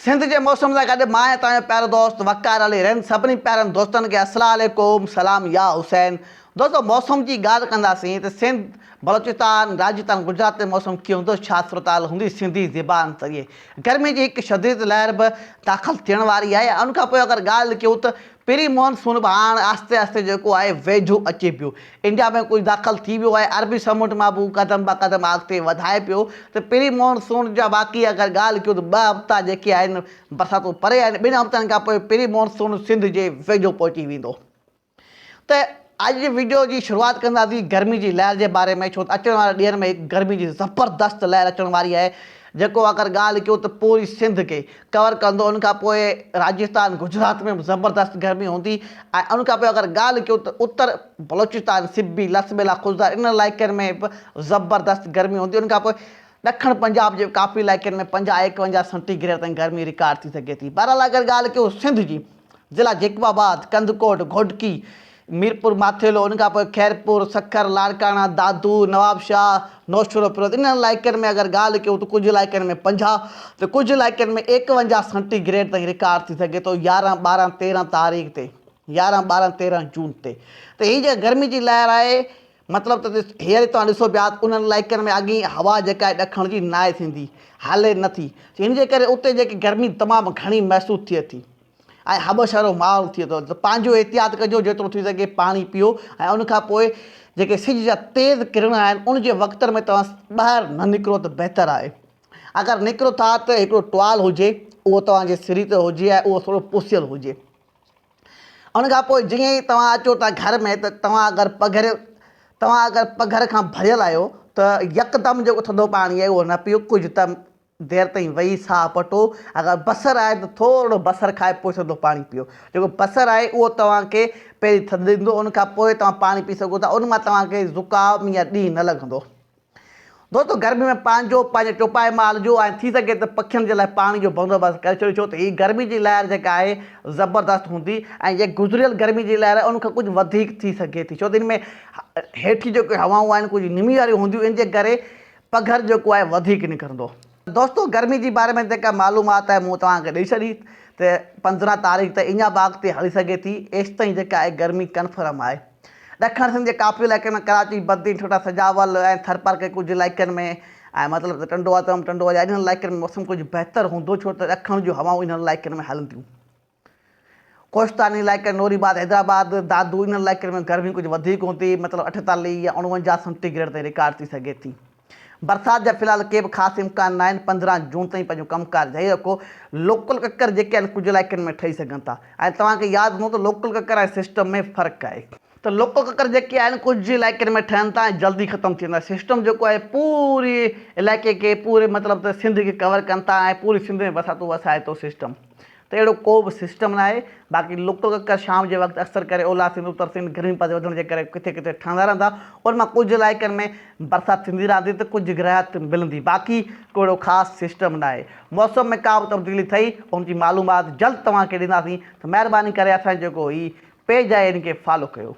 سنڌ جي موسم سان گڏ مان ۽ توهان جو پيارو دوست وقار علي رند سڀني پيارن دوستن کي السلا عليڪم سلام يا حسين دوستو موسم جي ڳالھ ڪنداسين ته سنڌ بلوچستان راجستان گجرات ۾ موسم ڪيئن هوندو ڇا صورتحال هوندي سنڌي زبان ذريعي گرمي جي هڪ شديد لهر به داخل ٿيڻ واري آهي ان کان پوء اگر ڳالھ ڪيون ته پري مون سون به هاڻ آهستي آهستي جيڪو آهي ويجهو اچي پيو. انڊيا ۾ ڪجهه داخل ٿي ويو آهي. عربي سمنڊ مان به هو قدم به قدم آڳتي وڌائي پيو ته پري مون سون جا واقعي اگر ڳالهه ڪيون ته ٻه هفتا جيڪي آهن برساتون پري آهن ٻن هفتن کان پوء پري مون سون سنڌ جي ويجهو پهچي ويندو ته اڄ جي وڊيو جي شروعات ڪنداسين گرمي جي لهر جي باري ۾ ڇو ته اچڻ وارن ڏينهن ۾ هڪ گرمي جي زبردست لهر اچڻ واري آهي جيڪو اگر ڳالهه ڪيون ته پوري سنڌ کي ڪور ڪندو ان کان پوء راجستان گجرات ۾ به زبردست گرمي هوندي ۽ ان کان پوء اگر ڳالهه ڪيون ته اتر بلوچستان سبي لس ٻيلا خضدار انهن علائقن ۾ به زبردست گرمي هوندي ان کان پوء ڏکڻ پنجاب جي ڪافي علائقن ۾ پنجاهه ايڪونجاهه سنٽي گريڊ تائين گرمي رڪارڊ ٿي سگهي ٿي بهرحال اگر ڳالهه ڪيون سنڌ جي ضلع جيڪب آباد، ڪنڌڪوٽ، گهوٽڪي، ميرپور ماٿيلو، ان کان پوء خيرپور، سکر، لاڙڪاڻا، دادو، نوابشاهه، نوشهروفيروز انهن علائقن ۾ اگر ڳالهه ڪيون ته ڪجهه علائقن ۾ پنجاهه ته ڪجهه علائقن ۾ ايڪونجاهه سينٽي گريڊ تائين رڪارڊ ٿي سگهي ٿو يارهن ٻارهن تيرهن تاريخ تي يارهن ٻارهن تيرهن جون تي ته هي جيڪا گرمي جي لهر آهي مطلب ته هيئر ئي توهان ڏسو پيا ته انهن علائقن ۾ اڳي ئي هوا جيڪا آهي ڏکڻ جي ناهي ٿيندي، هلي نه ٿي، جنهن جي ڪري اتي جيڪي گرمي تمام گهڻي محسوس ٿئي ٿي ۽ هٻش وارو ماحول ٿئي ٿو ته پنهنجو احتياط ڪجو جيترو ٿي سگهي پاڻي پيئو ۽ ان کان پوء جيڪي سج جا تيز ڪرڻ آهن ان جي وقتن ۾ توهان ٻاهر نه نڪرو ته بهتر آهي اگر نڪرو ٿا ته هڪڙو ٽوال هجي اهو توهان جي سري تي هجي ۽ اهو ٿورو پوسيل هجي. ان کان پوء جيئن ئي توهان اچو ٿا گهر ۾ ته توهان اگر پگهر توهان اگر پگهر کان ڀريل آهيو ته يڪدم جيڪو ٿڌو پاڻي آهي اهو نه پيو ڪجهه ته دير تائين ويهي ساهه پٽو اگر بصر آهي ته ٿورڙو بصر کائي پوء ٿڌو پاڻي پيو جيڪو بصر آهي اهو توهان کي پهرين ٿڌ ڏيندو ان کان پوء توهان پاڻي پي سگهو ٿا ان مان توهان کي زڪام يا ڏينهن نه لڳندو دوستو گرمي ۾ پنهنجو پنهنجي ٽوپائي مان الجهو ۽ ٿي سگهي ته پکين جي لاء پاڻي جو بندوبست ڪري ڇڏيو ڇو ته هي گرمي جي لهر جيڪا آهي زبردست هوندي ۽ جيڪا گذريل گرمي جي لهر آهي ان کان ڪجهه وڌيڪ ٿي سگهي ٿي ڇو ته ان ۾ هيٺي جيڪي هوائون آهن ڪجهه نمي واريون هونديون ان جي ڪري پگهر جيڪو آهي وڌيڪ نڪرندو. دوستو گرمي جي باري ۾ جيڪا معلومات آهي مون توهان کي ڏئي ڇڏي ته پندرهن تاريخ تائين اڃا باغ تي هلي سگهي ٿي ايستائين جيڪا آهي گرمي ڪنفرم آهي. ڏکڻ سنڌ جي ڪاپي علائقي ۾ ڪراچي، بدين، ٺٽا، سجاول ۽ ٿرپارڪري ڪجهه علائقن ۾ ۽ مطلب ته ٽنڊو آتم، ٽنڊو اڄاء انهن علائقن ۾ موسم ڪجهه بهتر هوندو ڇو ته ڏکڻ جون هوائون انهن علائقن ۾ هلنديون. ڪوهستاني علائقن، نوري آباد، حيدرآباد، دادو انهن علائقن ۾ گرمي ڪجهه وڌيڪ هوندي مطلب اٺيتاليهه يا اڻونجاهه سنٽي گريڊ تائين رڪارڊ ٿي سگهي ٿي. برسات جا في الحال ڪي به خاص امڪان ناهن، پندرهن جون تائين پنهنجو ڪم ڪار جاري رکو، لوڪل ڪڪر جيڪي آهن ڪجهه علائقن ۾ ٺهي سگهن ٿا ۽ توهان کي ياد هوندو ته لوڪل ڪڪر ۽ سسٽم ۾ فرق آهي، ته لوڪل ڪڪر جيڪي آهن ڪجهه علائقن ۾ ٺهن ٿا ۽ جلدي ختم ٿي ويندا، سسٽم جيڪو آهي پوري علائقي کي پوري مطلب ته سنڌ کي ڪور ڪن ٿا ۽ پوري سنڌ ۾ برساتون وسائي ٿو سسٽم. ته اهڙو ڪو به سسٽم ناهي، باقي لڪ ڪڪر شام جي وقت اڪثر ڪري اولهه سنڌ، اتر سنڌ گرمي پد وڌڻ جي ڪري ڪٿي ڪٿي ٺهندا رهندا، ان مان ڪجهه علائقن ۾ برسات ٿيندي رهندي ته ڪجهه گرهيات ملندي، باقي ڪو اهڙو خاص سسٽم ناهي، موسم ۾ ڪا به تبديلي ٿئي ان جي معلومات جلد توهان کي ڏينداسين ته مهرباني ڪري اسان جو جيڪو هي پيج آهي ان کي فالو ڪيو.